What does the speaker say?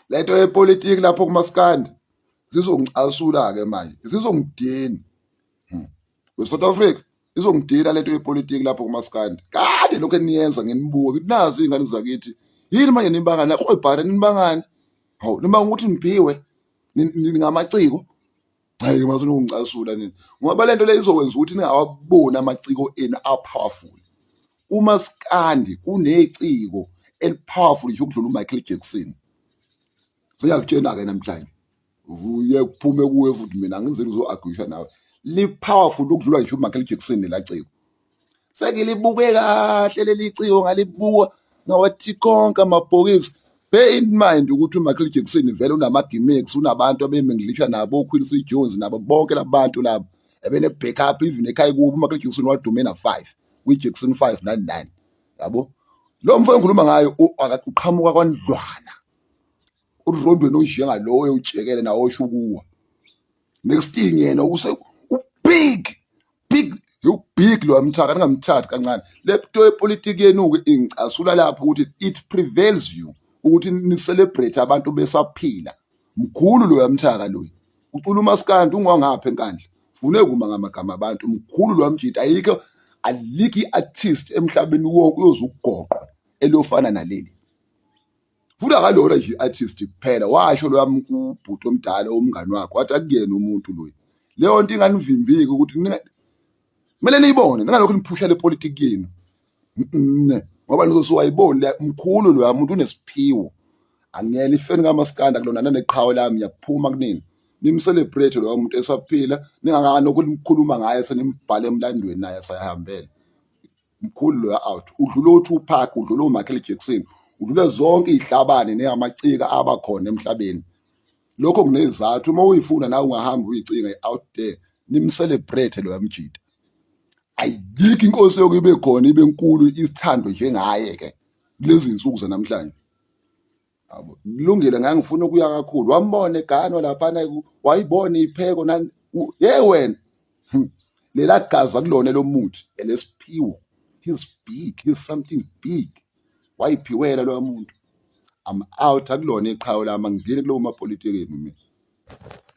lento yepolitiki lapho kumaskandi zizongicasula ke manje zizongidina hmm. weSouth Africa izongidina lento yepolitiki lapho kumaskandi kade lokho eniyenza nginibuke ukuthi nazi ingane zakithi yini manje nibangani lakho ebhare nibangani hawu nibanga ukuthi nibhiwe ningamaciko Hayi masona ungicasula nini ngoba lento le izokwenza ukuthi ningawaboni amaciko enu apowerful umaskandi uneciko elipowerful nje ukudlula uMichael Jackson siyakutshena ke namhlanje uye kuphume kuwe futhi mina ngenzeni uzo-agwisha nawe li-powerful ukudlula ngisho umichael jackson nelaciko sengilibuke kahle leli ciko ngalibuka ngawathi konke amabhokisi bear in mind ukuthi umichael jackson vele unama-gimmicks unabantu abemenglisha nabo oquincy jones nabo bonke labantu labo ebene-back up even ekhaya kubo umichael jackson wadume na-five kwi-jackson five nani-nine yabo lo mfo engikhuluma ngayo uqhamuka kwandlwana urondweni onjengalowo ewutshekele nawo osho ukuwa next thing yena use ubig big ubig lo amthaka ningamthathi kancane le nto yepolitiki yenu-ke ingicasula lapho ukuthi it prevails you ukuthi nicelebrate abantu besaphila mkhulu loyo amthaka loyo ucula umaskandi ungwangaphi enkandla fune kuma ngamagama abantu mkhulu loyo amjita ayikho alikho i-artist emhlabeni wonke uyoze ugoqwa eliyofana naleli futhi akalona nje i-artist kuphela washo loyami kubhuti omdala umngani wakho wathi akuyena umuntu loyi leyo nto inganivimbiki ukuthi kumele niyibone ningalokhu niphusha le politiki yenu ngoba nizosuwayiboni le mkhulu loya muntu unesiphiwo angiyena ifeni kamaskanda kulona naneqhawe lami yaphuma kunini nimcelebrate loya muntu esaphila ningakani ukuthi nikhuluma ngaye senimbhale emlandweni naye sayahambela mkhulu loya out udlula uTupac udlula uMichael Jackson udlule zonke izihlabane neamacika aba khona emhlabeni lokho kunezathu uma uyifuna nawe ungahamba uyicinga out there nimcelebrate loya mjita ayikho inkosi yokuyibe khona ibe nkulu isithando njengaye ke kulezi insuku zanamhlanje Abo, kulungile ngangifuna ukuya kakhulu wambona egano laphana ku- wayibona ipheko nani u- ye wena Hmm. lela gazi akulona lomuthi elesiphiwo he's big he's something big wayiphiwela loya muntu i'm out akulona iqhawe lami angingeni kulowo mapolitikeni mina